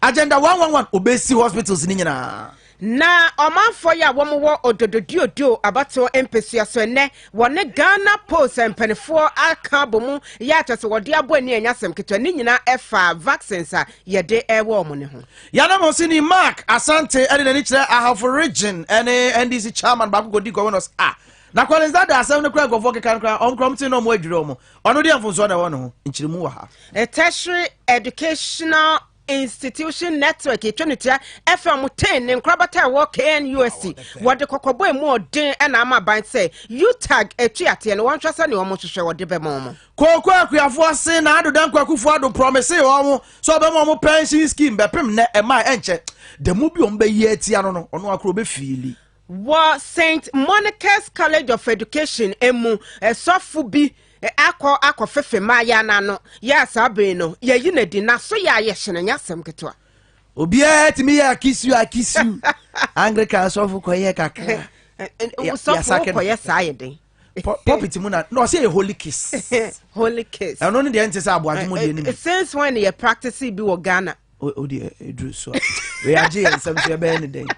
Agenda one one one obesi hospitals ni nyinaa. Na ɔmanfoɔ yi a wɔwɔ Odododuoduo abatoɔ mpesua so ɛnnɛ, wɔne Ghana Post mpanimfoɔ aka abɔ mu yɛ akyɛ sɛ wɔde abɔ ani a ɛnyɛ asɛm ketewa. Ne nyinaa ɛfa vaccines a yɛde ɛwɔ wɔn no ho. Y'anamɔsini Mark Asante de n'ani kyerɛ Ahafo Region ne NDC Chairman baako kɔdi Governors a na Collins Dada asɛm no koraa nkurɔfoɔ keka no koraa ɔnkorɔmte na wɔn adwiri wɔn. Ɔno deɛ mfonsoɔ na ɛwɔ ne ho, nkyerɛmu wɔ ha. A tertiary educational institution network etwa no tia ɛfɛ ɔmo ten ne nkorabata ɛwɔ KNUST wɔde kɔkɔbɔ emu ɔden ɛna ama ban sɛ UTAG etu ateɛ no wɔn hwɛ sɛ nea ɔmo hwehwɛ wɔde bɛma ɔmo. Kooko Akuafo ase na Ado Danko Akufo Ado promise ɔmo sɛ ɔbɛma ɔmo pension scheme bɛpem nnɛ ɛmaa ɛnkyɛ da mu bi ɔmo bɛyi atia no no ɔno akoro bɛfiili. Wɔ Saint Monica's College of Education mu sɔfo bi akɔ akɔfefe mmayewa no ano, yɛ a saa bere no yɛayi no adi. N'aso yɛ a yɛ hye no, ɛnyɛ asɛm ketewa. Obiara tumi yɛ akisu akisu. Anglikan sɔfo kɔyɛ kakra. Sɔfo kɔyɛ saa yɛ den. pulpit mu na na ɔsɛ yɛ holy kiss. holy kiss. ɛno ne deɛ n te sɛ aboagye mu deɛ no bi. since when yɛ practice bi wɔ ghana. o deɛ eduru so a wei agye yɛn nsɛm so ɛbɛyɛ ne dɛn.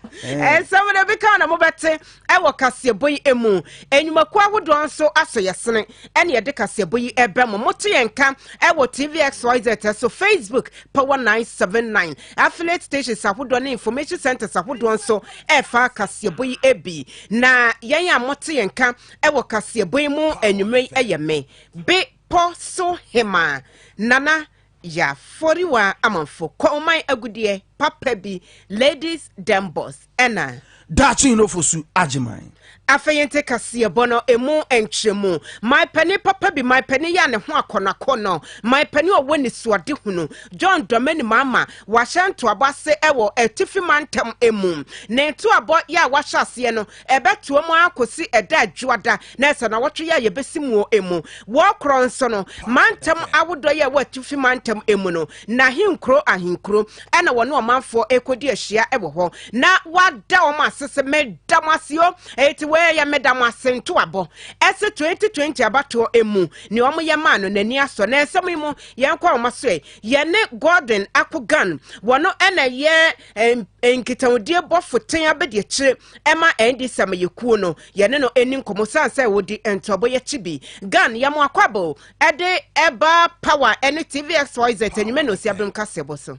nsɛm no bi kan na mo bɛ te ɛwɔ kaseɛbɔ yi emu enyimako ahodoɔ nso aso yɛ sene ɛna yɛde kaseɛbɔ yi ɛbɛ mo mo te yɛn ka ɛwɔ tv xyz so facebook power nine seven nine Affiliate stations ahodoɔ ne information centres ahodoɔ nso ɛrefa kaseɛbɔ yi bi. Na yɛn a mote yɛn ka wɔ kaseɛbɔ yi mu anwummerɛ yi ɛyɛ me, be pɔ so hemaa nana yafɔriwa amanfo kɔnman agudeɛ papa bi ladies dembos ɛna. Daakye Nofo Su Agyeman. Afei nte kaseɛbɔ no emu nkyerɛmu. Maipɛni papa bi, maipɛni yɛ a ne ho akɔnnɔakɔnnɔ, maipɛni a ɔwɔ anisoadehunu, John Dɔmani Mahama, wahyɛ ntoabɔ ase wɔ Atifi Mantam mu. Ne ntoabɔ yɛ a wahyɛ aseɛ no, ɛbɛtoa mu ara kɔsi ɛda a Dwoada, na ɛsɛ nnawɔtwe yɛ a yɛbɛsi muo mu. Wɔ korɔ nso no, mantam ahodoɔ yɛ a ɛwɔ Atifi Mantam mu no, n'ahenkuro ahenkuro na wɔne ɔmanfoɔ ɛkɔdi ahyia wɔ hɔ na wada wɔn ase sɛ meda mo ase o ɛti wei yɛ meda mo ase ntoabɔ ɛsɛ 2020 abatoɔ ɛmu ne wɔn yɛ maa no n'ani asɔ na nsɛm yi mu yɛn kɔ wɔn so ɛ yɛne Gordon Akogan wɔn ɛna yɛ nkitahodie bɔfo ten abɛdi akyire ɛma ɛndi sɛm yɛ kuo no yɛne no ɛni nkɔmɔ san sɛ wɔdi ntoabɔ yɛkyi bi gan yɛ mo akɔ abɔ ɛde ɛba power ɛne tvxyz anwuma na osia bem kaseɛbɔ so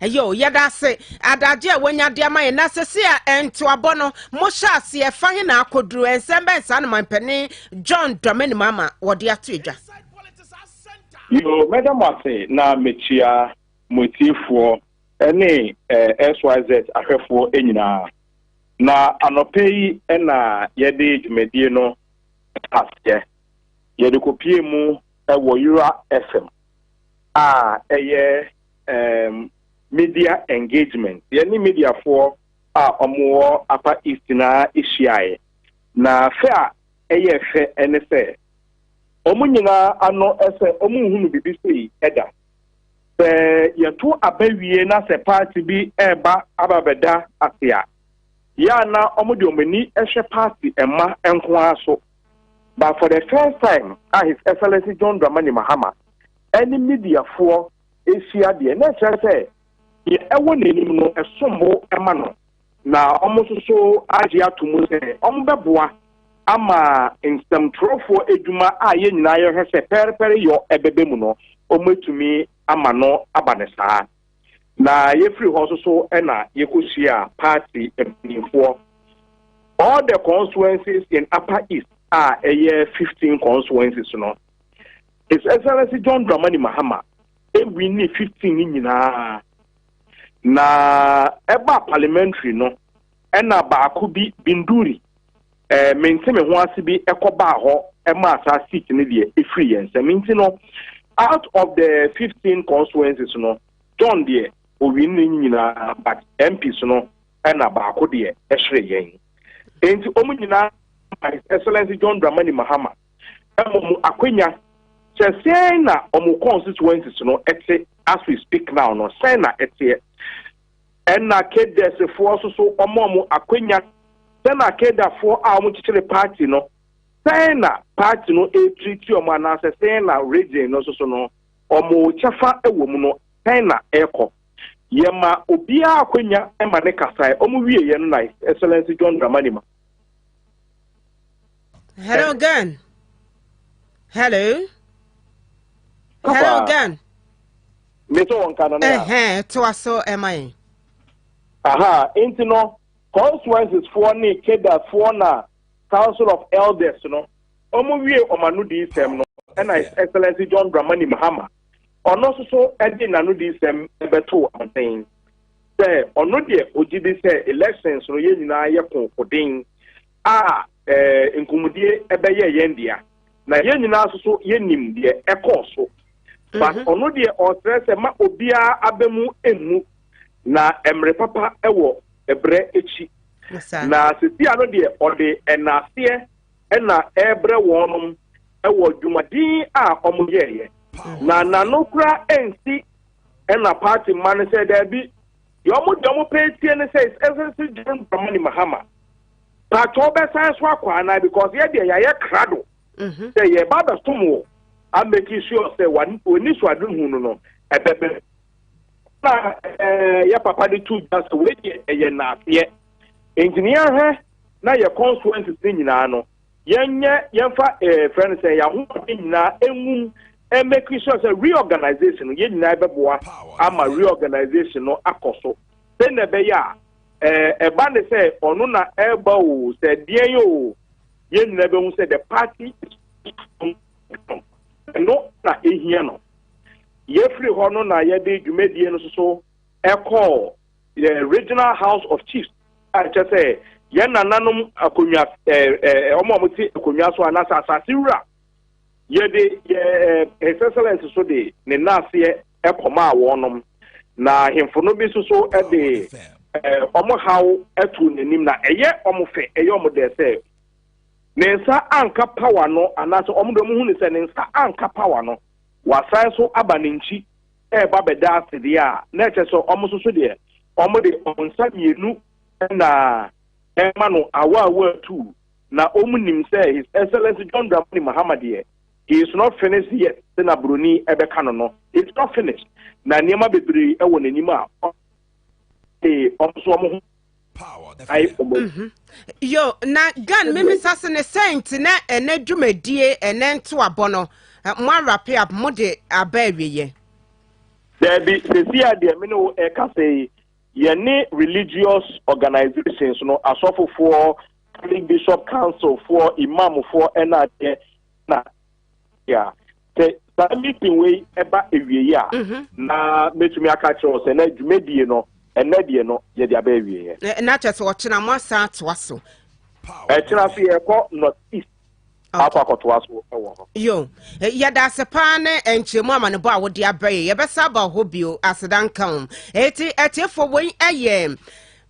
ɛyɛ o yɛda ase adagye a wɔnya de ama yɛn na sese a ntoabɔ no mohyɛ aseɛ fa he na akɔduru nsɛm bɛn saa no mampanin john dɔmani mu ama wɔde ato adwa yo mɛda mo ase na mekyia mo atiefoɔ ne xyz ahwɛfoɔ nyinaa Na anɔpa yi na yɛde dwumadie no aseɛ. Yɛde kɔpie mu wɔ Yura FM a ɛyɛ um, media engagement. Yɛne mediafoɔ a wɔwɔ Upper East nyinaa hyiaeɛ. Na fɛ a ɛyɛ fɛ ne sɛ, wɔn nyinaa ano sɛ wɔnhunu biribi sei da. Sɛ yɛto aba wie na sɛ paati bi reba aba bɛda ase a, yɛ a na wɔde wɔn ani hwɛ paati mma nko ara so. But for the first time a His Excellency John Dramani Mahama ne mediafoɔ hyia deɛ, na ɛkyerɛ sɛ deɛ ɛwɔ n'anim no, ɛsom bo ma no. Na wɔsoso agye ato mu sɛ wɔbɛboa ama nsɛmtwerɛfoɔ adwuma a yɛn nyinaa yɛhwɛ sɛ pɛrepɛre yɔ ɛbɛba mu no, wɔatumi ama no aba no saa. Na yɛfiri hɔ nso so na yɛkɔhyiaa party mpanimfoɔ. All the constituencies in Upper East a ɛyɛ 15 constituencies no, His Excellency John Dramani Mahama ɛwinni 15 no nyinaa. Na ɛbaa parliamentary no ɛna baako bi Binduri eh, mente me ho ase bi ɛkɔbaa hɔ ɛmaa saa seat no deɛ ɛfiri yɛn nsam nti no out of the 15 constituencies no John deɛ owin ne nyinaa but MPs no ɛna baako deɛ ɛhyere yɛn nti ɔmo nyinaa His Excellency John Dramani Mahama Mmom no, akwanya, sɛ sɛn na wɔn constituencies no te as we speak now no, sɛn na ɛteɛ? Ɛnna Kedesefoɔ nso so, wɔma wɔn akwanya. Sɛn na Kedafoɔ a wɔkyekyere party no, sɛn na party no ɛretiriti wɔn anaasɛ sɛn na region no nso so no, wɔn kyɛfa wɔ mu no, sɛn na ɛrekɔ? Yɛma obiara akwanya ma ne kasae. Wɔwieeɛ no na Excellency John Dramani Mahama. Hello, Gan. Hello. Hello, Gan. Me so on Canada. Eh, eh, to us so am I. Aha, ain't no consequences for ni keda for na Council of Elders no. Omo wie omanu di isem no. And I Excellency John Dramani Mahama. Ono so so edi nanu di isem ebeto amten. sɛ ɔno deɛ ɔgye di sɛ elections no yɛn nyinaa yɛ konkoden a eh, nkɔmmɔdie ɛbɛyɛ yɛn dea na yɛn nyinaa nso so yɛnim deɛ ɛkɔɔ so but mhm. ɔno deɛ ɔsrɛ sɛ ma obiara aba mu mmu na mmerɛ papa wɔ ɛberɛ akyi na sesia no deɛ ɔde ɛnaaseɛ ɛna ɛrebrɛ wɔnom ɛwɔ dwumadin a wɔyɛeɛ na nano kora ɛnsi Ɛna party mma no sɛ daabi, deɛ ɔmo deɛ ɔmo pɛ atie ne sɛ his excellency John Dramani Mahama, paatwɔ wobɛsan so akɔ anaa because yɛ deɛ yɛayɛ krado mhm. sɛ yɛba abɛsom wɔ a making sure sɛ w'ani so ade hu no no ɛbɛbɛ na eh, yɛ papa de tu gya sɛ wei deɛ ɛyɛ naaseɛ nti ne yɛahwɛ na yɛ constituencies ne nyinaa no Yɛnyɛ yɛmfa ɛɛ eh, frɛ no sɛ yɛn ahoɔden nyinaa nwum mmɛkiri sure sɛ reorganization no yɛn nyinaa bɛboa ama reorganization no akɔ so sɛ na ɛbɛyɛ a ɛɛ eh, ɛba ne sɛ ɔno na ɛreba o sɛ deɛn o yɛn nyinaa bɛhu sɛ the party is ɛno na ehia no yɛfiri hɔ no na yɛde dwumadie no soso ɛkɔɔ Yɛ Regional House of Chiefs a ɛkyerɛ sɛ yɛn nananom akonnwa ɛɛ wɔn a wɔte akonnwa so anaasɛ asase wura. Yɛde yɛ His Excellence so de ne nnaseɛ kɔmaa wɔnom, na ahemfo no bi nso so de wɔn haw too n'anim, na ɛyɛ wɔn fɛ, ɛyɛ wɔn dɛ sɛ ne nsa anka pawa no, anaasɛ wɔn de wɔn hu ne sɛ ne nsa anka pawa no, wasan so aba ne nkyi ɛreba bɛda ase deɛ a, na ɛkyɛ sɛ wɔn nso so deɛ, wɔde wɔn nsa mmienu na ɛrema no awaawa atuu. Na wɔnim sɛ His Excellency John Dramani Mahama deɛ, he is not finished yet sɛ na buroni ɛbɛka no no, he is not finished. Na nneɛma bebree wɔ n'anim a wɔn nso wɔn ho ayɛ ɔmo. Mhm. yo na gan mimisa se ne sɛn nti na ɛnɛ dwumadie ɛnɛ ntoabɔ no eh, mo awrape up mo de aba awieɛ daabi sɛsi a deɛ me ne wo ɛka sɛ yi yɛne religious organizations no asɔfofoɔ catholic bishop council foɔ imam foɔ ɛna adeɛ na yeah. sɛ saa meeting wei ɛba awieɛ a mhm. na mɛtumi aka kyerɛ wo sɛ na dwumadie no ɛnɛ deɛ no yɛde aba awieɛ na kyɛ sɛ ɔkyena mo asan atoa so ɛkyena so yɛkɔ north east akɔ akɔtoa so wɔ hɔ yo yɛda ase paa ne nkyerɛmu amanebɔ a wode aba yi yɛbɛsa aba hɔ bio aseda nka wo ɛti atiefoɔ wei ɛyɛ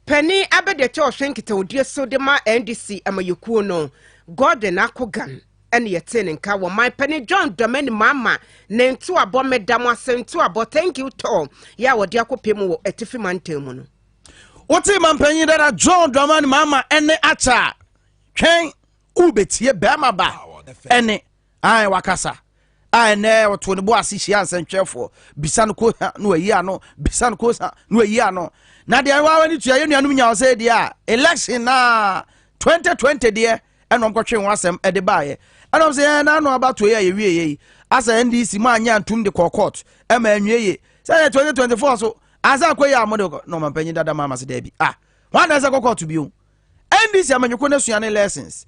pani abɛdeɛ kyɛ ɔhwɛ nkitahodie so de ma ndc amayɛkuo no gordon akogan ɛna yɛtee ne nka wɔ man panin John Dramani Mahama ne ntoabɔ meda mo ase ntoabɔ thank you tɔɔ yɛ a wɔde akɔpɛ mu wɔ Atifi mantam mu no. Wote man panyin dada John Dramani Mahama ɛne akyɛ a twɛn wobɛtie bɛrima ba ɛne ae wakasa a ɛnɛ ɔto ne bo ase hyia nsɛntwerɛfoɔ bisa no kosa na wayi ano bisa no kosa na wayi ano na deɛ wawa ne tua yɛ nuanom nya ɔsɛ deɛ a election na 2020 deɛ ɛna wɔn kɔtwee ho asɛm de baeɛ ɛna wɔn sɛ ɛɛ n'ano abato yi a yɛwie yɛ yi asɛ ndc mu anyɛ antum de kɔɔ court ɛma anwie yie sɛ ɛyɛ twenty twenty four so ansa akɔ yie a wɔn de kɔ na wɔn mpanyin dada maa ma se dɛbi ah wɔn adan sɛ kɔ court bio ndc amanyɔkɔ na sua ne lessons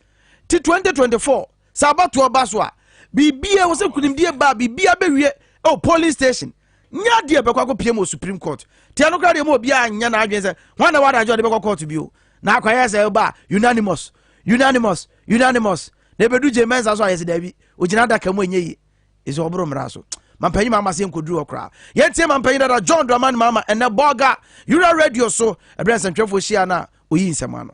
ti twenty twenty four sɛ abatoɔ ba so a biribi a wɔsɛ kunimdie ba biribi abɛwie ɛwɔ polling station. nyɛ adeɛ bɛkɔ akɔpiem wɔ supreme court teɛ no koraa deɛ ma obiara nyɛ n'adwene sɛ hwan na wɔada agye ɔde bɛkɔ court bio na akɔyɛ sɛ ɛba unanimous unanimous unanimous na ɛbɛdu gye mɛnsa so ayɛ sɛ daabi ogyina adaka mu ɛnyɛ yie ɛsɛ ɔboro mmara so mampanyin maama se nkɔduru hɔ koraa yɛntie mampanyin dada john draman maama ɛnɛ bɔga yura radio so ɛberɛ nsɛntwerɛfoɔ hyia no a ɔyi nsɛm ano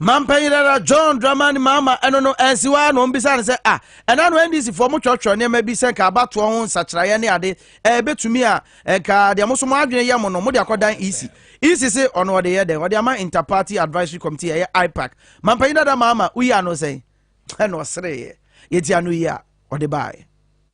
Mampanyinara John Dramani Mahama ɛno no ansi hɔ ara na wɔbisaa no sɛ a ɛna no NDCfoɔ mo twerɛtwerɛ nneɛma bi sɛ nka abatoɔ ho nsakyeraeɛ ne ade ɛɛ bɛtumi a nka deɛ mo so mo adwene yɛ mo no mode akɔdan EC EC se ɔno ɔde yɛ dɛn ɔde ama Interparty Advisory Committee ɛyɛ IPAC Mampanyinara Mahama woyi ano sɛn ɛna ɔsereeɛ yɛti ano yi a ɔde baaɛ.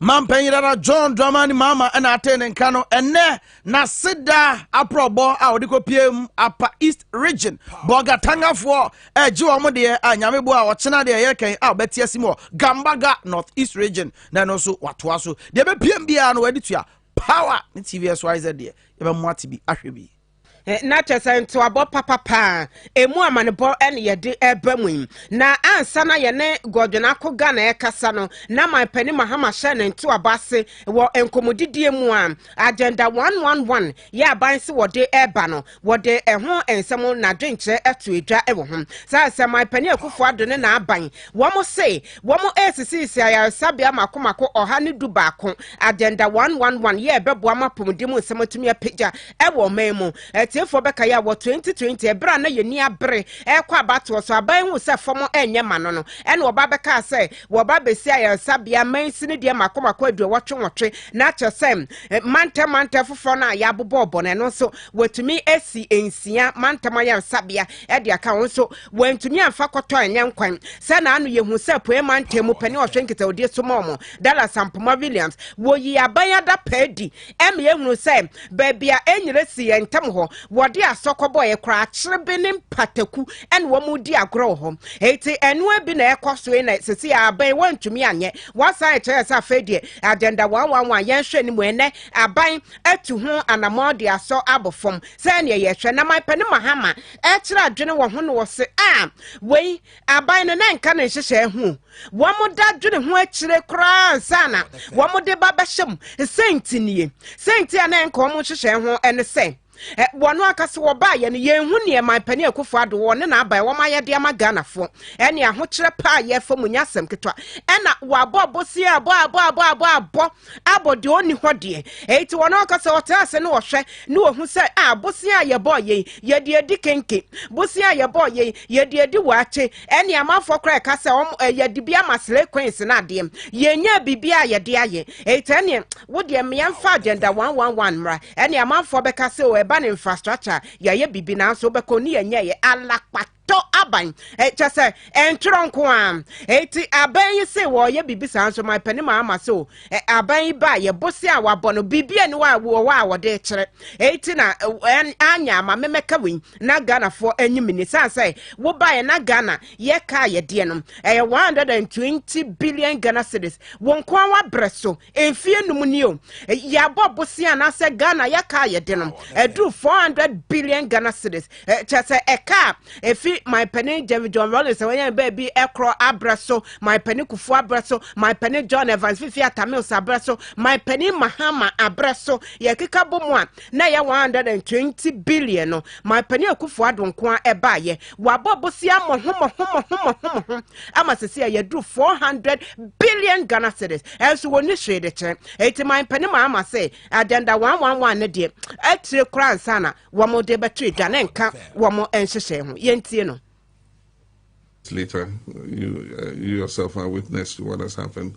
Mampanyin dada John Dramani Mahama na atee ne nka no ɛnnɛ n'aseda aprɔbɔ a ɔde kɔpie mu Apa East Region Bɔga Tangafoɔ ɛgye wɔn deɛ a nyame boa a ɔkyena deɛ ɛyɛ kɛn a ɔbɛte asi mu wɔ Gambaga North East Region na ɛno nso watoa so deɛ ɛbɛpiem biara no wɔde tua Power ne TVSYZ deɛ yɛbɛmo ate bi ahwɛ bi. na kyerɛ sɛ ntoabɔ papa paa ɛmu amanebɔ ne yɛde ɛba mu yi na ansa na yɛne Godwin Ako Ghana ɛkasa no na man pani Mahama hyɛ ne ntoabɔ ase wɔ nkɔmmɔdidie mu a agenda 111 yɛ aban se wɔde ɛba no wɔde ɛho nsɛm na adwenkyerɛ ato adwa wɔ ho saa sɛ man pani Akufo Addo ne n'aban wɔn se wɔn ɛresisisi ayaresabea mako mako ɔha ne du baako agenda 111 yɛ ɛbɛboa ma apɔmuden mu nsɛm atumi apagya Wɔ ɔman mu atiefoɔ bɛkae a, wɔ 2020 ɛberɛ a na yɛn ani abere rekɔ abatoɔ so, aban hu sɛ fam nyɛ ma no no, ɛna wɔba bɛkaa sɛ wɔba abɛsi ayaresabea mines no deɛ mako mako aduɔwɔtwe nwɔtwe, na kyerɛ sɛ mantam mantam foforɔ no a yɛabobɔɔ bɔ no, ɛno nso wɔatumi asi nsia mantam ayaresabea de aka ho nso wɔantumi amfa kɔtɔ anyɛ nkwan. Sɛ na ano yɛhu sɛ apueɛ mantam mu panin a ɔhwɛ nkitahudie so ma wɔn, Dallas Ampoma Williams, wɔyii aban adapaa adi Ɛma yɛhunu sɛ baabi a ɛnyera si yɛn ntam hɔ, wɔde asɔ kɔbɔeɛ, korakyerebe ne mpataku na wɔredi agorɔ wɔ hɔ. Enti ɛno ara bi na ɛrekɔ so yi na seesei ara aban wɔantumi anyɛ. Wɔasan akyerɛ yɛn sɛ afei deɛ agenda one one one yɛnhwɛ no mu ɛnnɛ aban atu ho anammɔn de asɔ abɔ fam. Sɛdeɛ yɛhwɛ na Mike Pene Mahama rekyerɛ adwene wɔ ho no ɔse ah wei Aban no na nka ne nhyehyɛe ho wɔda dwene ho akyire koraa ansa na wɔde ba bɛhyɛ mu. Sɛ nti nie. Sɛ nti a na nka wɔn nhyehyɛe ho ne sɛ wɔn ankasa wɔbaeɛ no yɛn hu neɛ man panin akufo ado wɔn ne n'aban wɔn ayɛde ama Ghanafoɔ ɛne ahokyerɛ paa yɛfa mu nyɛ asɛm ketewa ɛna wɔabɔ abosea abɔ abɔ abɔ abɔ abɔ abɔ deɛ ɔnni hɔ deɛ. Enti wɔn ankasa ɔtena ase na ɔhwɛ na ɔhu sɛ a bosea a yɛbɔɔ yei yɛde adi kenke, bosea a yɛbɔɔ yei yɛde adi waakye, ɛne amanfoɔ koraa ɛka sɛ wɔn eh, yɛde bi ama slay queens no adeɛ. Yɛnyɛ biribi a yɛde ayɛ. Enti ɛneɛ wo deɛ mmea mfa agenda 111 mmra. Ɛne amanfoɔ bɛka sɛ o ɛba ne infrastructure yɛayɛ biribi nanso wobɛkɔ ne yɛnyɛeɛ alakpa. tɔ aban eh, kyɛ sɛ ɛntorɔ nko a ɛti aban yi se wɔyɛ biribi saa nso ma pani ma ama se o eh, aban yi ba yɛ bose a wabɔ no biribi ani wa wɔwɔ a wɔde kyerɛ ɛti na eh, anya ama memɛka wei na ghanafoɔ anyi mini san sɛ wobaeɛ na ghana yɛka yɛdeɛ no ɛyɛ 120 billion ghana cities wɔn nko a wabrɛ so mfeɛ num ni o yɛabɔ bosea anaasɛ ghana yɛka a yɛde no ɛduru 400 billion ghana cities kyɛ sɛ ɛka a ɛfi manpani jeremy john rollins a wɔyɛ baabi ɛkorɔ abrɛ so manpani kufu abrɛ so manpani john evans fifi atamils abrɛ so manpani mahama abrɛ so yɛkeka bɔ mu a na ɛyɛ 120 billion no manpani akufu adonko a ɛbaayɛ Wabɔ bosea mmɔho mmɔho mmɔho mmɔho mmɔho ama sisi a yɛduru four hundred billion Ghana cedis ɛnso wɔnni hwee de kyerɛ eti man panin maa ama sɛ agenda one one one ne deɛ atire koraa nsa na wɔn de bɛto edwa ne nka wɔn nhyehyɛe ho yɛntie no. Later, you, uh, you yourself are witness to what has happened.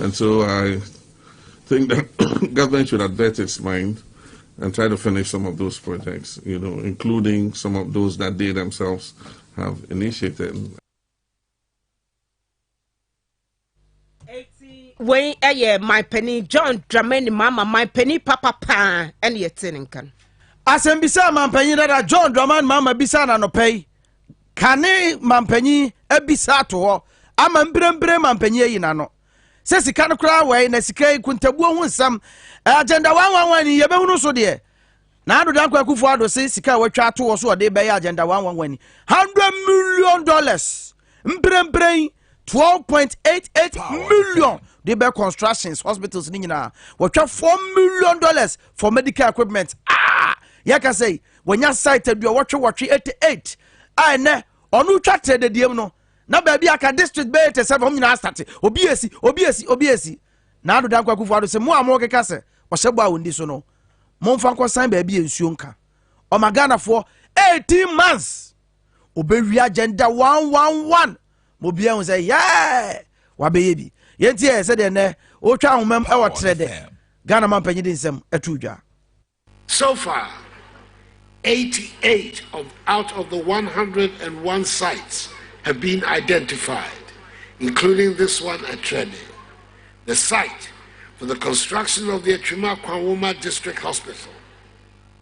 And so I think that government should advert its mind and try to finish some of those projects, you know, including some of those that they themselves have initiated. wei ɛyɛ my penny john dramani mama my penny papa paa ɛne ɛte ne nka no asɛmbisa a mampanyin dada john dramani mama bisa na nɔpɛ yi Kane mampanyin abisa ato hɔ ama mbrɛmbrɛ mampanyin ayi n'ano sɛ sika no koraa wɛe na sika yi kuntabuo ho nsɛm agenda one one one ni yɛbɛhunu so deɛ na Ado Dankwa Akufo Ado se sika a watwa ato hɔ so ɔde bɛyɛ agenda one one one ni hundred million dollars mprɛmprɛn twelve point eight eight million de bɛ constructions hospitals ne nyinaa wɔtwa four million dollars for medical equipment ah yɛka sɛ wɔnya site adua wɔtwe wɔtwe eighty eight a ɛnɛ ɔno twa tẹ dediem no na baabi aka district bɛyɛ eighty seven wɔn nyinaa asate obi esi obi esi obi esi na adoda nkwa kufu ado sɛ mo a mo keka sɛ ɔhyɛ bɔ a wɔn di so no mo nfa nkɔsan baabi yɛ nsuo nka ɔma ghanafoɔ eighteen months obewia gender one one one ma obiara hu sɛ yɛɛ wabɛyɛ bi yɛnti yɛ sɛdeɛ nnɛ wotwa ahomam ɛwɔ terɛ dɛ ghana ma mpanyin de nsɛm ɛto dwa So far, 88 of out of the 101 sites have been identified, including this one at Treme, the site for the construction of the Atwima Kwanwoma District Hospital.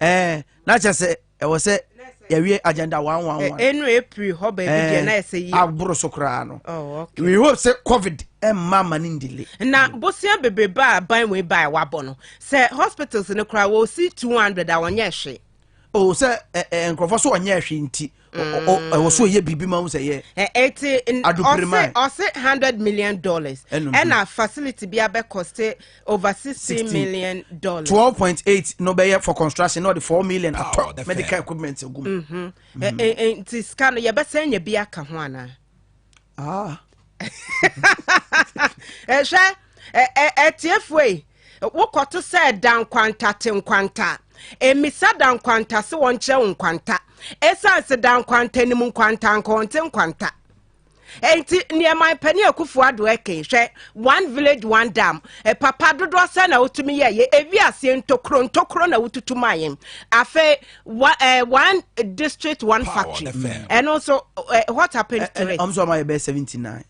ɛɛ na kyɛ sɛ ɛwɔ sɛ yɛwie agenda one one one. ɛnu eh, april hɔ baabi eh, deɛ na ɛsɛ yi. aboro so koraa no. oh okay. we hope sɛ covid ɛmma eh, ma ne ndile. na bosia bebrebe a ban wei ba a wabɔ no sɛ hospitals no koraa wɔsi two hundred a wɔnyɛ hwe. o oh, sɛ ɛ ɛ nkurɔfoɔ so wɔnyɛ hwe nti ɛwɔ so yɛ biribi ma wo sɛ yɛ ɛti ɔse ɔse hundred million dollars ɛna facility bi abɛkɔste over sixteen million dollars twelve point eight na ɔbɛyɛ for construction na ɔde four million atɔ medical equipment gu mu nti sika no yɛbɛsɛn nya bi aka ho anaa ah. ɛhwɛ ɛtiefoɔ yi wokɔto sɛ da nkwanta te nkwanta mmisa da nkwanta se wɔnkyerɛ wo nkwanta ɛsiane se da nkwanta nim nkwanta nka wɔnte nkwanta nti nneɛma mpanin akufo ado ɛkɛn hwɛ one village one dam e papa dodoɔ sɛ na wotumi yɛ yɛ ewi aseɛ ntokuro ntokuro na wotutu maa yɛn afei Wa, uh, one district, one Power factory. FM. And also, uh, what happened eh, to eh, it? I'm sorry, my best 79.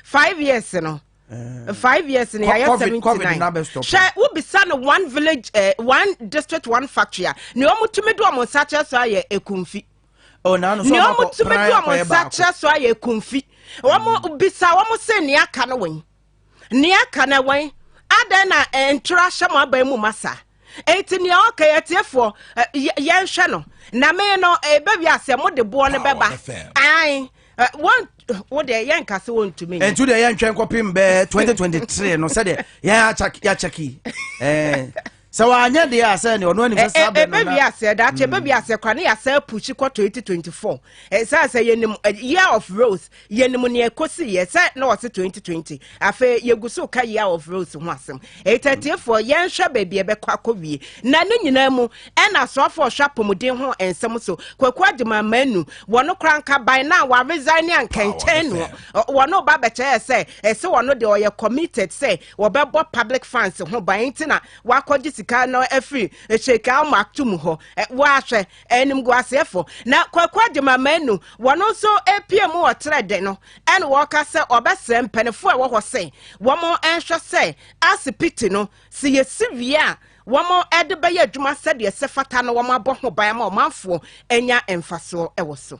Five years, you know. Uh, five years in the year 79 hwɛ wobisa no one village uh, one district one factory a nea ɔmotumi de ɔmo nsa kyerɛ so ayɛ ekumfi oh, nea ɔmotumi de ɔmo nsa kyerɛ so ayɛ ekumfi wɔn bisa wɔn se nea aka no wɔn Nea aka no ɛwɛn, adɛn na ɛntwerɛ ahyɛ mo aban mu ma saa? Enti nea ɔka yɛ atiefoɔ, yɛnhwɛ no. Na me no, ɛbɛwie aseɛ, mo de boɔ no bɛba. Ae, wɔn wo deɛ yɛnka sɛ wɔntumi nyɛ. Ɛntu deɛ yɛntwɛn kɔpem bɛɛ 2023 no sɛdeɛ yɛn akyɛke eh, sɛ wanyɛ deɛ a sɛ ne ɔno anim sɛ saa bɛ no na ɛbɛwie aseɛ da kyɛ ɛbɛwie aseɛ kwa ne yɛasɛ pushi kɔ 2024 ɛsɛ sɛ yɛnim year of rose yɛnim nea ɛkɔsi yɛ sɛ na wɔse 2020 afei yɛgu so ka year of rose ho asɛm ɛtɛtiefoɔ yɛnhwɛ baabi ɛbɛkɔ akɔwie na ne nyinaa mu ɛna soafoɔ ɔhwɛ apɔmuden ho nsɛm so kwaku agyema manu wɔno kora nka ban na waresign ne ankɛnkyɛn no wɔno ba bɛkyɛɛ sɛ ɛsɛ wɔno deɛ ɔyɛ committed sɛ Wɔbɛbɔ public funds ho ban nti na wɔakɔgye sika no afiri Sheikh Al Maktoum hɔ. Wɔahwɛ, animguaseɛfo. Na Kwaku Agyemang Manu, wɔn nso apue mu wɔ Trɛdɛ no na wɔreka sɛ wɔbɛsrɛ mpanyinfo a ɛwɔ hɔ sɛ wɔnhwɛ sɛ asipiti no, sɛ yɛsi wie a, wɔde bɛyɛ adwuma sɛdeɛ ɛsɛ fata na wɔabɔ ho ban ama ɔmanfoɔ anya mfasoɔ wɔ so.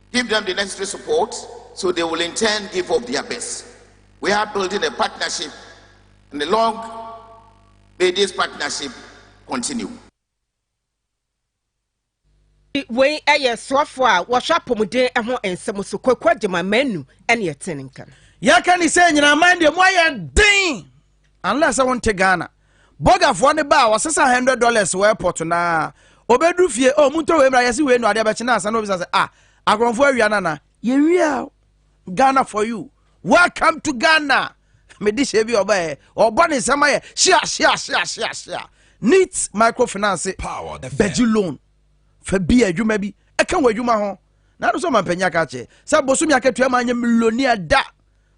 Give them the necessary support so they will in turn give of their best. We are building a partnership and long may this partnership continue. wei yɛ soafoɔ a wɔhwɛ apɔmuden ho nsɛm so kwaku agyema manu ɛne ɛtene nka no yɛka ne sɛ nyinaman deɛ moayɛ den Unless sɛ wonte Ghana. Bɔgafoɔ no baa ɔsesa hundred dollars wɔ airport naa. Ɔbɛduru fie, oh montɔ wei mmra yɛse wei no adeɛ bɛkye na ansa na obisa sɛ ah akorɔmfoɔ awia no anaa? Yɛwia o. Ghana for you. Welcome to Ghana. Mede hyɛ bi ɔbɛɛ ɔbɔ ne nsɛm ayɛ hyia hyia hyia hyia hyia. Neat microfinance bɛgye loan fa bi adwuma bi ɛka wɔ adwuma ho. Na ano sɛ ɔmampanyin aka akyɛ sɛ bosomi akatua ma anyɛ millionaire da.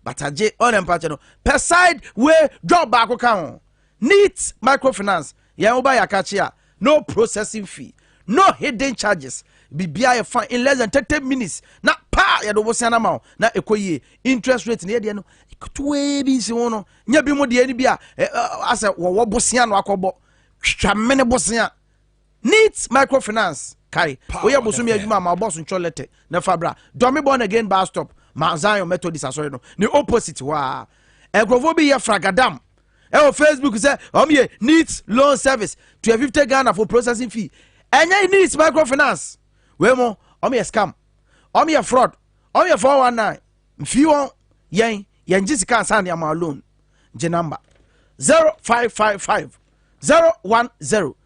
but agye ɔrɛ mpakyɛ no pɛ side way job baako ka ho neat microfinance yɛn wo ba yɛ akakye a no processing fee no hidden charges bibia yɛ fa in less than thirty minutes na paa yɛde wo sɛn ama wo na ɛkɔ yie interest rate ne yɛdeɛ no ketewee bi nsi ho no nyɛ bi mu deɛ no bi a asɛ wɔwɔ bosea no akɔbɔ twitwa mene bosea Neat Microfinance kae woyɛ bosome adwuma a ma ɔbɔ so ntwɔ lɛtɛ na fa bra Dɔme Born Again Bus Stop Mount Zion Methodist Asɔre no ne opposite hɔ a Nkurɔfoɔ bi yɛ fragadam ɛwɔ Facebook sɛ wɔn yɛ Neat Loan Service to a fifty Ghana for processing fee ɛnyɛ Neat Microfinance wei mo wɔn yɛ scam wɔn yɛ fraud wɔn yɛ four one nine mfii wɔn yɛn yɛn gye sika ansa ne ama loan gye number zero five five five zero one zero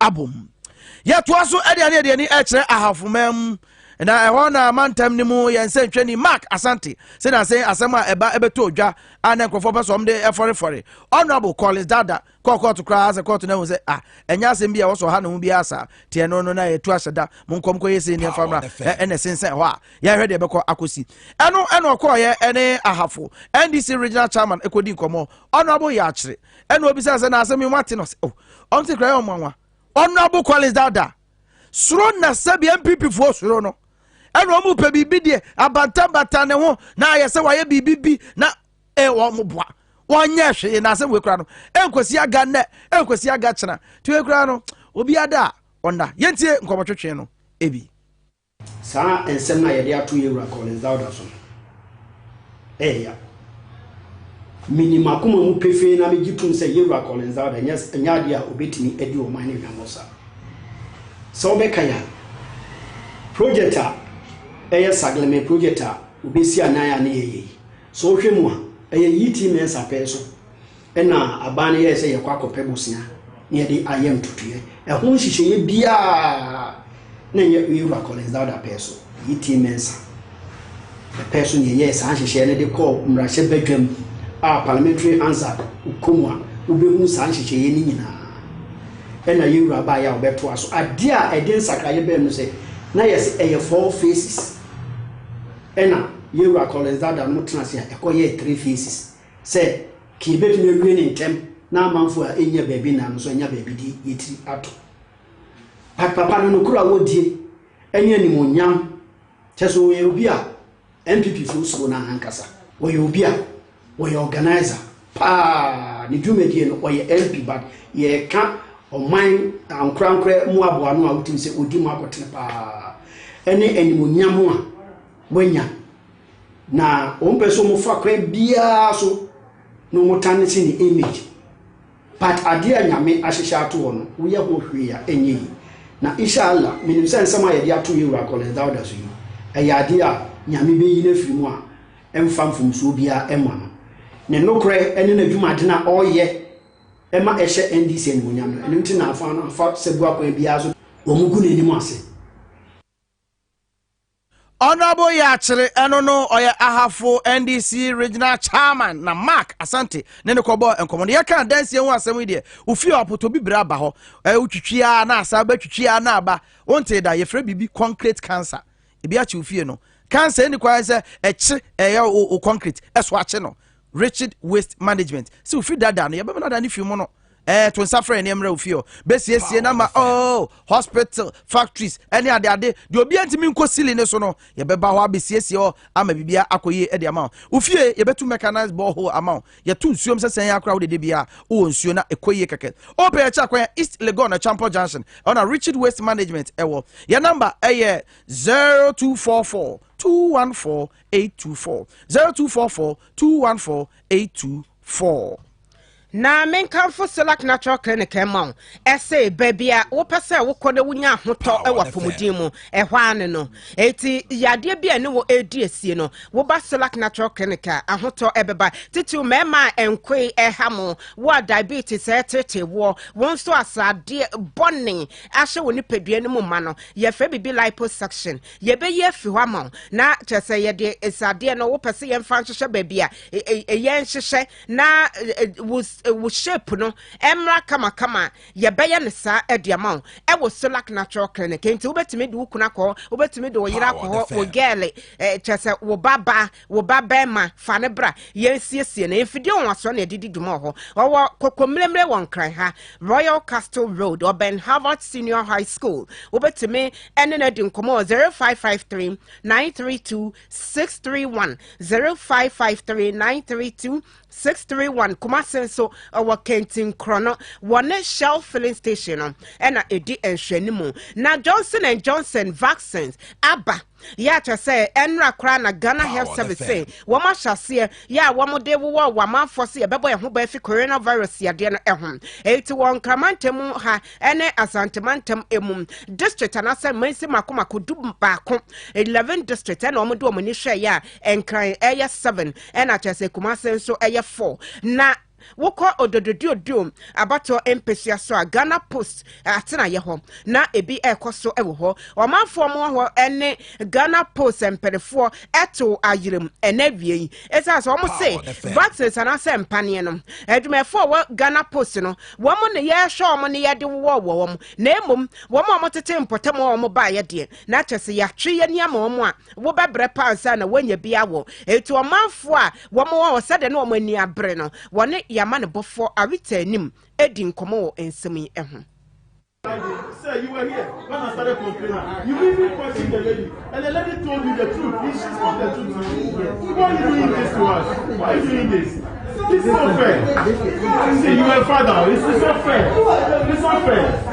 abom. Yɛtoa so de aneadeani kyerɛ Ahafo man mu, na ɛhɔ na mantam no mu yɛn nsɛntwani Mark Asante sɛ nansen asɛm a ɛba bɛtɔɔ dwa a na nkurɔfoɔ pɛ sɛ wɔn de fɔrefɔre Honourable Collins Dada kɔɔ kɔɔto koraa sɛ kɔɔto no ahu sɛ ah ɛnyɛ asɛm bi a wɔsɔ ha ne ho biara saa te ɛno no na yɛtu ahyɛ da mo nkɔm kɔyɛ sei ne mfamra ɛna ɛsensɛn hɔ a yɛhwɛ deɛ ɛbɛkɔ akɔsi ɛno ɛna ɔkɔɔyɛ ɛne Ahafo NDC Regional Chairman ɛkɔdi nkɔmmɔ Honourable Yɛakyere ɛna obisa sɛ na asɛm yi wate no ɔsɛ o oh, ɔnte kora yɛ ɔmo anwa honorable collins dada soro na sɛbi npp foɔ soro no ɛna ɔmo pɛ biribi deɛ abantabata ne ho na ayɛ sɛ wayɛ biribi bi na ɛɛ wɔn boa wɔnyɛ hwee na asɛm wei kora no ɛnkosi aga nnɛ ɛnkosi aga kyena tiwei kora no obi ada a ɔnna yɛntie nkɔmɔtwetwe no ebi. Saa nsɛm no a yɛde ato yɛn wura Collins Dauda so no, ɛyɛ ya. Minim m'akoma mu pefee na migye tom sɛ yɛn wura Collins Dauda nyɛ nyɛ ade a obetumi adi ɔman no hwammɔ saa. Sɛ wobɛkan a, project a ɛyɛ Sagleme project a obesi anan a ne yɛyɛ yi, sɛ wohwɛ mu a, ɛyɛ Yi Ti Mensah pɛn so. Ɛnna aban no yɛe sɛ yɛkɔ akɔpɛ bosea na yɛde ayɛ ntotoeɛ. Ɛho nhyehyɛeɛ biara na ɛnyɛ me wura Collins Dauda pɛɛ so. Ɛyɛ Tim Mensah ne pɛɛ so na yɛyɛɛ saa nhyehyɛeɛ no de kɔɔ mmarahyɛ badwam a parliamentary Hansard wokɔ mu a wobɛhunu saa nhyehyɛeɛ no nyinaa. Ɛnna yɛn wura baeɛ a wɔbɛtoa so. Adeɛ a ɛde nsakraeɛ bɛɛ no sɛ na yɛse ɛyɛ four phases. Ɛnna yɛn wura Collins Dauda no tena ase a ɛkɔyɛɛ three phases. Sɛ Kir betumi awie no ntɛm na amanfo a ennya baabi nnan no nso anya baabi de yetiri ato. Pat papa no nokoro a wodie ɛne animuonyam kyɛ sɛ ɔyɛ obi a NPP foɔ suro no ahankasa. Ɔyɛ obi a ɔyɛ organiser paa ne dwumadie no ɔyɛ MP but yɛka ɔman ankorankorɛ mu aboano a wotim sɛ ɔdi mu akotene paa ɛne animuonyam a wanya. Na wɔmpɛ sɛ wɔfa kwan biara so na wɔtane si ne image. But adeɛ a Nyame ahyehyɛ ato hɔ no, woyɛ ho hwee a, ɛnyɛ yi. Na Isha Allah, menim sɛ nsɛm a yɛde ato Yɛwura Collins Dauda so yi, ɛyɛ adeɛ a Nyame bɛyi no afiri mu a ɛmfa mfomsoɔ biara ɛmma no. Ne nokorɛ ɛne n'adwumaden a ɔreyɛ ɛma ɛhyɛ NDC animuonyam no, ɛno nti na afa no afa sabua kwan biara so wɔgu n'anim ase. Honourable Yakyere, ɛno no ɔyɛ Ahafo NDC Regional Chairman na Mark Asante ne no kɔbɔɔ nkɔmmɔ no. Yɛka adansie ho asɛm yi deɛ, wofie a ɔpotɔ bibire aba hɔ, eh, wotwitwi ara na asa aba, twitwi ara na aba. Wontee da, yɛfrɛ biribi concrete cancer. Ebi akye wo fie no. Cancer ɛnni kwan sɛ ɛkye ɛyɛ wo concrete, ɛso akye no. Richard Waste Management sɛ ofi dada no yɛbɛma no ada ne fi mu no ɛɛ eh, to nsa frɛ nneɛma ofi hɔ bɛsiesie na ma oh hospital factories ɛne ade ade deɛ obi ntumi nkɔ sili ne so no yɛbɛba hɔ abɛsiesie hɔ ama biribiara akɔ yie ɛde ama wo ofie yɛbɛtu mechanized borehole ama wo yɛto nsuom sɛ sɛn akora wode de biara wowɔ nsuo na ɛkɔ yie kɛkɛ ɔpɛ yɛkyɛ akwan east legon na champɔ junction ɛna richard waste management ɛwɔ yɛ number ɛyɛ 0244 214 8224. 0244 214 824. Na menkamfo Selak Natural Clinic ma wo. Ɛse baabi a wopɛ sɛ wokɔ na wonya ahotɔ wɔ apɔmuden mu. Ɛhɔ ara ne no. Eti yadeɛ bi a ne wɔ edi asie no, woba Selak Natural Clinic a ahotɔ ɛbɛba. Titiriw mmarima a nkoe ɛha mo, wo a diabetes ɛretete woɔ, wo nso a sradeɛ bɔne ahyɛ wo nipadua no mu ma no, yɛfrɛ biribi liposuction. Yɛbɛyi afi hɔ ama wo. Na kyerɛ sɛ yɛde sradeɛ no wopɛ sɛ yɛmfa nhyehyɛ baabi a yɛn nhyehyɛ na wo shape no ɛmmra kamakama a yɛbɛyɛ no saa de ama wo ɛwɔ Solac Natural Clinic. Nti wobɛtumi de wo kunu akɔ hɔ, wobɛtumi de wo yere akɔ hɔ, wo gɛɛle, kyerɛ sɛ wo babaa Wo ba barima, fa no bra, yɛnsiesie no. Mfidie nwansoɔ na ɛde di dwuma wɔ hɔ. Ɔwɔ Kokomlemle wɔ Nkran ha, Royal Castle Road, ɔbɛn Harvard Senior High School. Wobɛtumi ne no adi nkɔmmɔ wɔ 0553 932 631 0553 932 631 Kumase nso ɔwɔ Kentinkorɔ no wɔ ne Shell filling station no ɛna ɛdi nhwɛnimu na Johnson and Johnson vaccines aba Yɛ a kyerɛ sɛ ɛnra koraa na Ghana Health Service se wɔn ahyɛ aseɛ yɛ a wɔde wowɔ wɔn amanfoɔ se yɛbɛbɔ yɛn ho ban afi coronavirus yadeɛ no ho. Eti wɔ Nkra mantam mu ha ne Asante mantam mu district anaasɛ mansin mako mako du baako, 11 district, ɛna wɔde wɔn ani hwɛeɛ a Nkran ɛyɛ 7 ɛna kyerɛ sɛ Kumase nso ɛyɛ 4 na Wokɔ Ododododo abatoɔ mpesua so a, Ghana Post atenaeɛ hɔ na ebi rekɔ so wɔ hɔ. Ɔmanfoɔ wɔ hɔ ne Ghana Post mpanefoɔ to ayerɛm ɛnɛ awia yi. Ɛsiane sɛ wɔn se vaccines anaasɛ mpaneɛ no, adwumayɛfoɔ wɔ Ghana Post no, wɔn ne yɛhwɛ wɔn ne yɛde wowɔ wɔ wɔn, na mmom wɔn a wɔtete mpɔtam a wɔn baeɛ deɛ, na kyɛ sɛ yɛatwe yɛn ani ama wɔn a wɔbɛbrɛ paa ansa na wɔanya bi awɔ. Enti ɔmanfoɔ a Wɔn wɔ hɔ sɛdeɛ na wɔn ani abere no, wɔne yɛn amanebɔfoɔ Arita anim redi nkɔmmɔ wɔ nsɛm yi ho.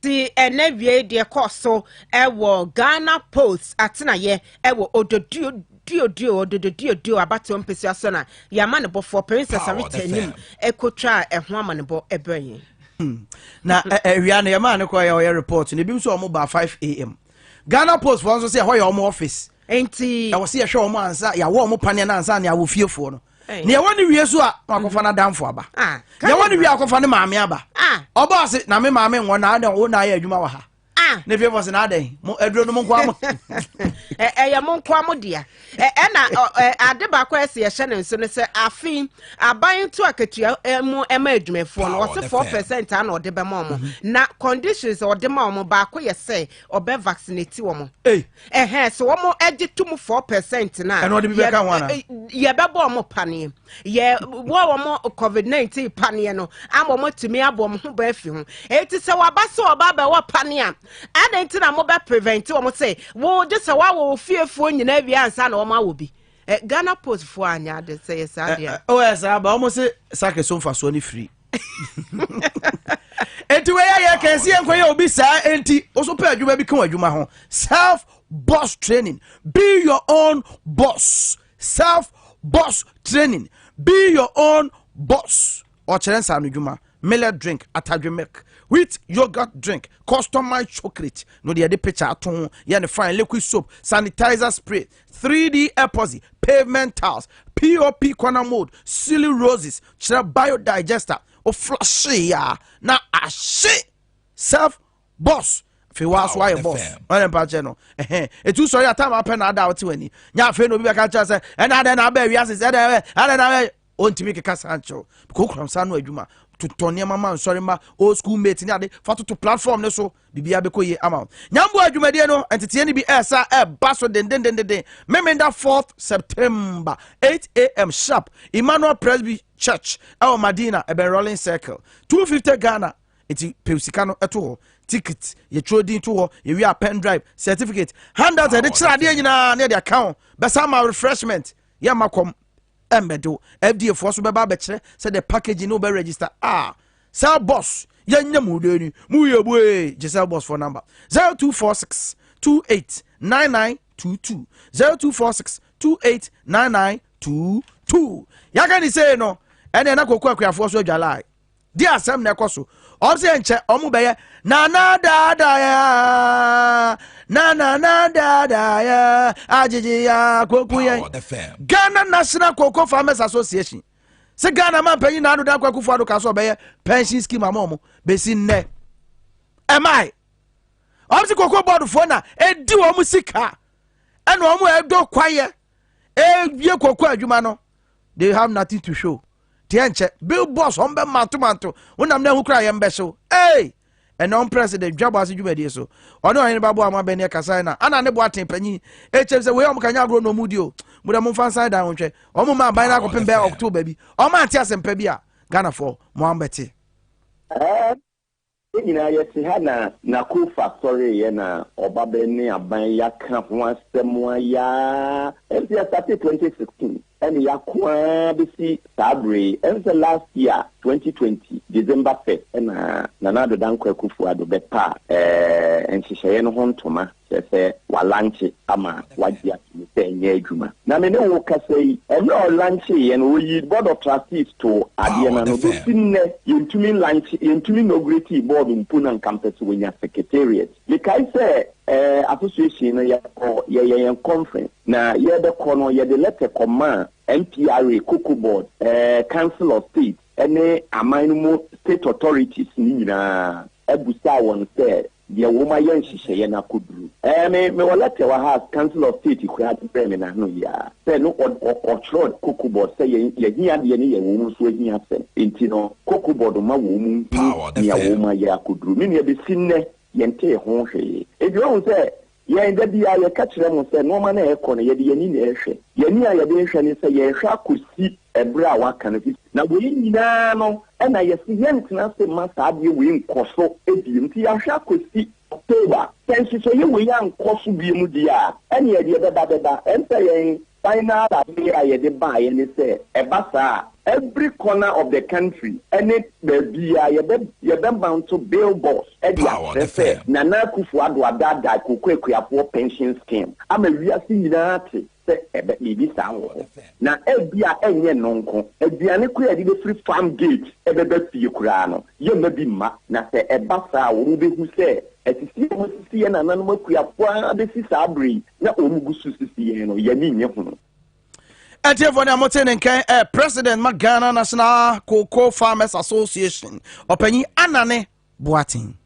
Ti ɛnɛ wiei deɛ ɛkɔɔ so wɔ Ghana Post atenaeɛ wɔ Ododuo Duoduo, Ododo Duoduo, abatoɔ mpesua so na yɛama no bɔfoɔ Princess Arita anim kɔtwaa ɛho amanebɔ brɛɛ yɛn. Na awia no yɛmaa no kɔɔ yɛ ɔyɛ report no ebinom sɛ wɔn baa 5am Ghana Post foɔ nso sɛ ɛhɔ yɛ wɔn office nti ɛwɔ sɛ yɛhwɛ wɔn ansa yɛawɔ wɔn paneɛ no ansa na yɛawɔ fiefoɔ no nea ɛwɔ ne wie so a na wakɔfa mhm. n'adamfo aba ah, nea ɛwɔ ne wie akɔfa ne maame aba ah. ɔbɔ ase na me maame nwɔ na adɛn wo na ayɛ adwuma wɔ ha ah. ne fie fɔ se na adɛn mo aduro no mo nkoa mo ɛyɛ mo nkoa mo dea ɛna ade baako a ɛsɛ yɛhyɛ ne nso no sɛ afe aban to akatua mu ɛma adwumafoɔ no wɔse four percent a na ɔde bɛma ɔmo mhm. na conditions ɔde ma ɔmo baako yɛ sɛ ɔbɛ vaccinate wɔn ɛhɛn sɛ wɔn ɛgye to mu four percent na ɛna ɔde bi bɛ ka ho ana yɛbɛbɔ wɔn paneɛ yɛ wɔ wɔn covid nineteen paneɛ no ama wɔn atumi abɔ wɔn ho bɛn fi ho eti sɛ waba sɛ ɔba abɛwɔ paneɛ a ɛna nti na mo bɛ prevent wɔn sɛ wɔn gye sɛ wɔawɔ wɔ fiefoɔ nyinaa wie ansa na wɔn awɔ bi ghana post foɔ anya ade sɛ yɛ saa deɛ ɔyɛ saa ba wɔn sɛ sakre so nfa soɔ ne firi. enti wɔyɛ yɛ kɛse yɛ nkɔyɛ obi saa enti woso pɛ adwuma bi ka wɔn adwuma ho self boss training be your own boss self boss training be your own boss ɔkyerɛ nsa no dwuma millet drink atadwe milk wheat yogurt drink customized chocolate no deɛ yɛde picture ato ho yɛ ne fine liquid soap sanitizer spray 3D epoxy, pavement tiles, POP corner mold, ceiling roses, kyerɛ biodigester. Woflashe ya na ahye self boss. afei waa so ayɛ boss ɔne mpa kyɛ no ɛhɛn etu sɔre a time apɛ na ada a ɔte w'ani nya afei na obi bɛka kyerɛ sɛ ɛna adɛn na abɛ wiase sɛ ɛdɛ ɛdɛ na abɛ ɔntumi keka saa nkyerɛw because okura nsa ano adwuma totɔ nneɛma ma nsɔre ma old school mate ne ade fa toto platform ne so biribiara bɛkɔ yie ama wo nyamboa adwumadie no nteteɛ no bi ɛsa ɛba so dendendenden memenda 4th september 8am sharp emmanuel presby church ɛwɔ madina ɛbɛn rolling circle 250 ghana nti pɛw sika no ɛto hɔ ticket yɛtwerɛ din to hɔ yɛwie a pen drive certificate handout ɛde kyerɛ adeɛ nyinaa ne ɛde aka ho bɛsa ma refreshment yɛmma kɔm ɛmmɛdew fda foɔ so bɛba abɛkyerɛ sɛ the package no bɛ register ah cell boss yɛnyɛ mu dɛ ni mu yɛ bu ee gye cell boss foɔ number zero two four six two eight nine nine two two zero two four six two eight nine nine two two yɛaka ne sei no ɛne ɛna kɔkɔ akuafoɔ so adwalae di asɛm na ɛkɔ so ɔm sɛ nkyɛ ɔmo bɛyɛ nana daadaya nanana daadaya agyegye ya koku yɛn ghana national cocoa farmers association sɛ ghana ma mpanyin na ado dan kwaku fo ado ka sɛ ɔbɛyɛ pension scheme ama ɔmo bɛsi nnɛ ɛmae ɔm sɛ cocoa board foɔ na ɛdi wɔn sika ɛna wɔn ɛdɔ kwayɛ ɛwie cocoa adwuma no they have nothing to show deɛ nkyɛ bill boss wɔn bɛ manto manto wonam na ehu kura yɛn bɛ so ee ɛnna wɔn president dwabɔ ase dwumadie so ɔne ɔhene ba boa wɔn abɛn ne kasa na ana ne boa ten panyin ekyɛm sɛ wei wɔn kanya agorɔ na wɔn di o mo dɛ mo nfa nsan dan wɔn hwɛ wɔn mo ma aban na akɔpem bɛɛ october bi wɔn ante asɛmpa bi a ghana fɔ mo an bɛte. Yɛn nyinaa yɛte ha na Nakofa sɔreeɛ na ɔbabɛn ne aban yɛaka ho asɛm ayɛ ara ɛnso yɛstartee 2016 ɛne yɛako ara bɛsi saa berɛ yi ɛnso sɛ last year 2020 December 1st ɛna Nana Addo Dankwa Akufo-Addo bɛpaa ɛɛ nhyehyɛeɛ no ho ntoma kyerɛ sɛ walankye ama wagye atom sɛ ɛnyɛ adwuma. Na me ne wo kasa yi, mmerɛ a ɔlankyeeɛ no, ɔyii Board of Trustees too adeɛ no ano. Bɛsi nnɛ, yɛntumi nlankyee, yɛntumi inauguratii board mpo na nka mpɛ sɛ wɔnya secretariat. Mekae sɛ eh, association no yɛkɔ, yɛyɛ yɛn conference, na yɛrebɛkɔ no, yɛde lɛtɛ kɔmaa MPRA, Cocoa Board, eh, Council of State, ne aman no mu state authorities no nyinaa, busaa wɔn sɛ Deɛ wom ayɛ nhyehyɛeɛ no akɔduru. Ɛɛ me mewɔ lɛtɛ wɔ ha a council of state koraa de brɛɛ me n'ano yi ara sɛ no ɔd ɔ ɔtwerɛ cocobod sɛ yɛn yɛhia deɛ no yɛ wom nso ahia asɛm nti no cocobod ma wom nhunu Power nea FM. wom ayɛ akɔduru. Me nua bɛsi nnɛ yɛntee ho hwee. Enti wahu sɛ Yɛn, da biara yɛka kyerɛ mo sɛ nnoɔma no a ɛrekɔ no, yɛde yɛn ani na ɛrehwɛ. Yɛn ani a yɛde rehwɛ ne sɛ yɛrehwɛ akɔsi ɛberɛ a wɔaka no. Na wei nyinaa no na yɛse yɛrentena ase mma saa adeɛ wei nkɔ so bio, nti yɛahwɛ akɔsi October. Sɛ nhyehyɛeɛ wei ankɔ so bio deɛ a, ɛnneɛ deɛ ɛbɛba bɛba. Ɛnsɛ yɛn Kwan no ara pɛ a yɛde baeɛ ne sɛ ɛba saa a, every corner of the country ne baabiara yɛbɛ yɛbɛ mounto billboards de akyerɛ sɛ Nana Akuffo Addo adaadaa Koko Akuafoɔ pension scheme ama wiase nyinaa ate sɛ ɛbɛ biribi saa wɔ hɔ. Na ebia ɛnyɛ ɛno nko, aduane koraa a yɛde bɛfiri farm gate ɛbɛba fie koraa no yɛmma bi mma. Na sɛ ɛba saa a wɔbɛhu sɛ asisi a wɔasisi yɛn nananom akuafoɔ ara bɛsi saa berɛ yi na wɔn gu so sisi yɛn no yɛn ani nye ho. ɛtiefo ne mote ne nkɛn ɛ president ma ghana national cocoa farmers association ɔpanyin anane boaten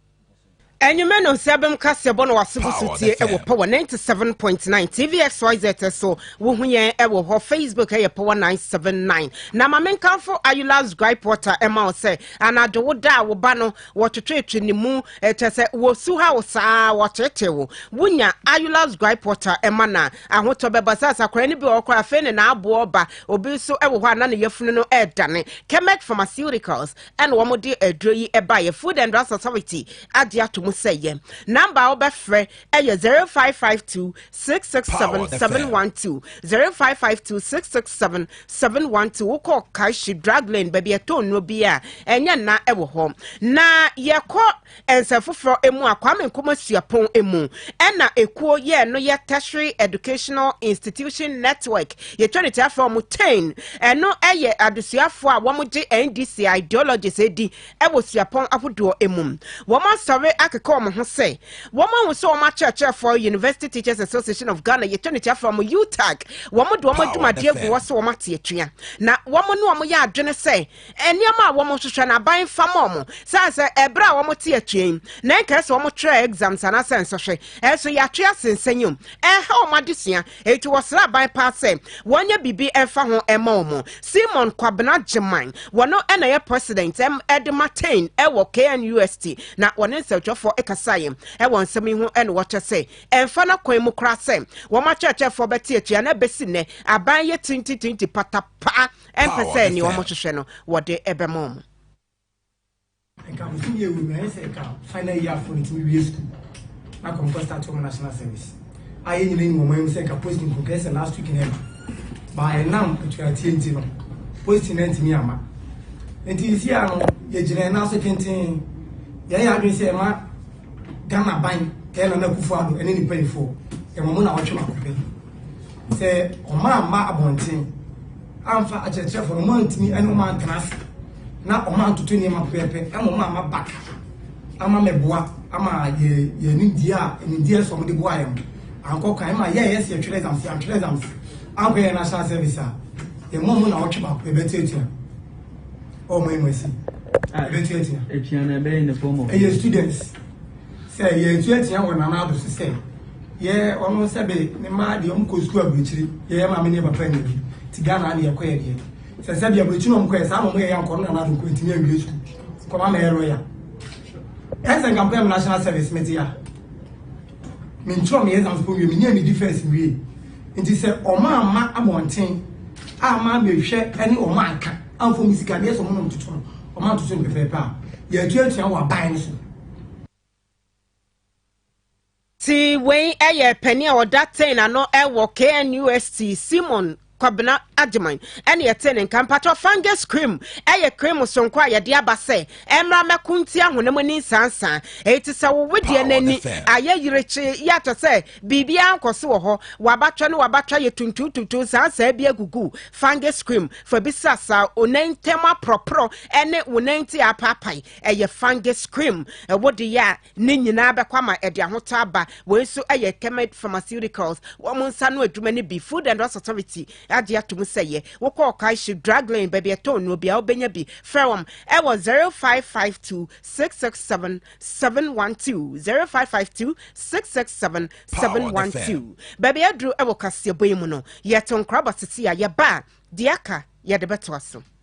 Enyume no nsɛbɛm kaseɛ bɔ na wase bo so tie wɔ power 97.9 tvxyz so wohu yɛn wɔ hɔ facebook ɛyɛ power 979 na ma menkamfo ayulas gripe water ɛma wo sɛ anadwo wo da a wo ba no Wɔtwetwetwe ne mu, kyerɛ sɛ wosu ha wo saa ara, wɔteetee wo. Wunya Ayula's Gripe Water ma no a, ahotɔ bɛba. Sɛ asakoran no bi wɔ hɔ koraa a, afei ne n'aboɔ reba. Obi nso wɔ hɔ a, na ne yafunu no redane. Kemec Pharmaceuticals na wɔde aduro yi baeɛ. Food and Drugs Authority agye atom sɛ ɛyɛ. Namba a wobɛfrɛ ɛyɛ zero five five two six six seven seven one two zero five five two six six seven seven one two wokɔ kashi drug lane baabi ɛtɔ nnuro bi a ɛnyɛ nna ɛwɔ hɔ na yɛkɔ nsɛm foforɔ emu a kwame nkoma suapɔn emu ɛna ekuo yɛ no yɛ tertiary educational institution network yɛtwa ne tiafoɔ mo ten ɛno ɛyɛ adesuafoɔ a wɔn gye ndc ideologies edi wɔ suapɔn ahodoɔ mu. Wɔasɔre akeka wɔn ho sɛ wɔahu sɛ wɔn akyerɛkyerɛfoɔ, University Teachers Association of Ghana, yɛtwa ne tiafa wɔn, UTAG, wɔde wɔn adwumadeɛ gu hɔ sɛ wɔate atua. Na wɔn ne wɔn yɛ adwene sɛ nneɛma a wɔhwehwɛ no aban fa ma wɔn. Sane sɛ ɛberɛ a wɔte atua yi, na ɛnkae sɛ wɔtwerɛɛ exams anaasɛ nsɔhwɛ, ɛnso yɛatwe ase nsɛnyɛ mu, ɛreha wɔn adesua. Enti wɔsrɛɛ aban paa sɛ wɔnyɛ biribi mfa ho mma wɔn. Simon Kwabena Gyimah, wɔno na ɛyɛ president de ma Tain wɔ KNUST, na wɔne nsɛntwerɛfoɔ kasaeɛ wɔ nsɛm yi ho na wɔkyerɛ sɛ ɛmfa n'akwan mu koraa sɛ wɔn akyerɛkyerɛfoɔ bɛte atua na ɛbɛsi nnɛ aban yɛ tintitinti patapaa mpɛ sɛ nea wɔhwehwɛ no wɔde bɛma wɔn. Nka mfo bi ewu mmerɛ sɛ nka final year afo no tumi wie sukuu na kɔ nkɔ start wɔn national service a yɛn nyinaa nim wɔn anim sɛ nka posting nko kɛsɛ last week na ɛma baa ɛnam atuatie nti no posting na ntumi ama nti nsi a no yɛgyina ɛna so tenten yɛyɛ adwene sɛ ɛma Ghana ban tɛ na n'akufo ado ɛne ne mpanyinfoɔ ɛma mo na wɔtwe ma kɔpɛ sɛ ɔmaa mma abɔnten amfa akyerɛkyerɛfoɔ no mo antumi ɛne ɔmo antena ase. na wɔantoto nneɛma pɛpɛɛpɛ ama wɔamma baka ama mɛboa ama yɛ yɛ nimdeɛ a nimdeɛ sɔm de boa yɛn ankɔ kan ma yɛyɛ sɛ yɛtwerɛ exams yɛantwerɛ exams ankɔ yɛ national service a yɛn mu ɔmo na ɔtwe baako yɛbɛtuatua ɔmo yi mu asi yɛbɛtuatua ɛyɛ students sɛ yɛtuatua wɔ nana ado so sɛ yɛ ɔno sɛ be ne mmaa deɛ ɔmo kɔ sukuu aburukyiri yɛyɛ maame ne papa nyɛ bi ti ghana ne yɛkɔ yɛ deɛ Sɛ sɛ bia bɛkyi na ɔmo kɔɛ saa na ɔmo yɛ ya nkɔno na n'afɛ nkɔ ntumi anwie sukuu kɔma mɛyɛ lɔya ɛsɛ nka mpɛ national service mete ya mentwerɛ me exams po wie menyɛ me defense wie nti sɛ ɔmo ama abɔnten ama mehwɛ ɛne ɔmo anka amfo me sika deɛ sɛ ɔmo nom toto no ɔmo antoto no pɛpɛɛpɛ a yɛatuatua wɔ aban no so Ti wei yɛ panin a ɔda ten ano wɔ KNUST, Simon Kwabena Agyeman na yɛtee ne nka. Mpakyɛw, fungus cream yɛ cream soronko a yɛde aba sɛ ɛmmra mmɛko ntia honam ani nsansaa. Eyi te sɛ wo wedeɛ no ani ayɛ yirekye, yɛ akyɛ sɛ biribiara nkɔ so wɔ hɔ, w'abatwɛ ne w'abatwɛ yɛ tuntuntuntun saasaa bi agugu. Fungus cream fa bi srasra wo nan ntam aporɔporɔ ne wo nan ti apaapae. Ɛyɛ fungus cream. Wode yɛ a, Ne nyinaa bɛkɔ ama ɛde ahotɔ aba. Wei nso yɛ Kemet Pharmaceuticals wɔn nsa ano adwuma no bi. Food and Drugs Authority agye atom sɛ yɛ wokɔ Ɔkaehye Drug Lane baabi a ɛtɔn nnuro biara wobɛnya bi. Frɛ wɔn wɔ 0552 667 712, 0552 667 712. Baabi aduru wɔ kaseɛbɔ yi mu no, yɛto nkra ba sisi a yɛba a, deɛ aka yɛde bɛtoa so.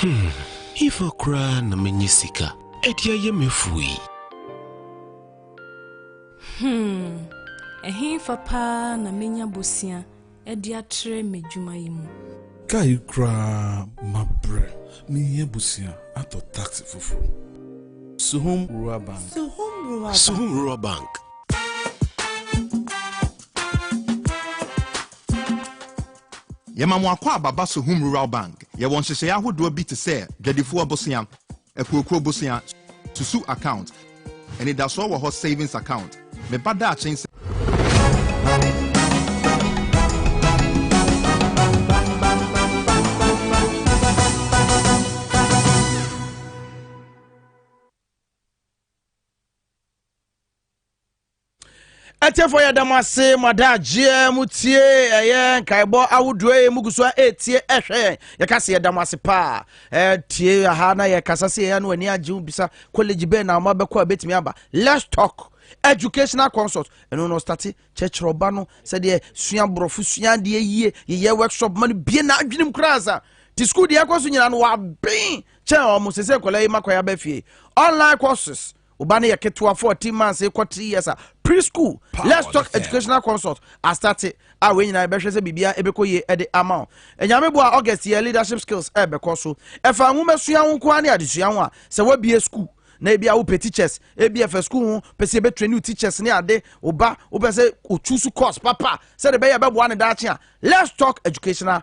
Hmm, hefa koraa na menya sika de ayɛ m'afuo yi? Hmm, ɛhefa paa na menya bosea de atrɛ m'adwuma yi mu? Kaa yi koraa mabrɛ, mehia bosea atɔ taxi foforɔ. Suhum Rural Bank. Suhum Rural Bank. Suhum Rural Bank. Yɛma mo akɔ aba ba Sohum Rural Bank. Yɛwɔ nhyehyɛe ahodoɔ bi te sɛ Dwadifoɔ Bosea, Akuokuo Bosea, Susu Account, Anidasoɔ wɔ hɔ Savings Account, Me Ba Daakye Nsɛm. Atiefo yɛda mo ase mo adagyeɛ mo tie ɛyɛ nkaebɔ ahodoɔ yi mo gu so a ɛretie ɛhwɛ yɛn yɛka se yɛda mo ase paa ɛtie aha na yɛkasa se yɛyɛ no ani agye wo bisa college bɛn na ɔma bɛkɔ a bɛtumi aba let's talk educational consult ɛno no state kyerɛkyerɛ ɔba no sɛdeɛ sua borɔfo sua adeɛ yie yɛyɛ workshop ma no bie na adwenem koraa sa te school deɛ ɛkɔ so nyina no waben kyɛn ɔmo sɛ sɛ nkɔla yi makɔyɛ aba fie online courses Wo ba no yɛ ketewa fourteen months kɔ three years a preschool let's talk educational consult asate a wei nyinaa yɛbɛhwɛ sɛ biribiara ɛbɛkɔ yie ɛde ama wo ɛnyame boa august yɛ leadership skills ɛbɛkɔ so ɛfa nwoma sua ho nkoa ne adesua ho a sɛ wabie school na ebi a wopɛ teachers ebi ɛfɛ school ho pɛ sɛ yɛbɛtwerɛ new teachers ne ade wo ba wopɛ sɛ otu so course papa sɛ de bɛyɛ bɛboa ne daakye a let's talk educational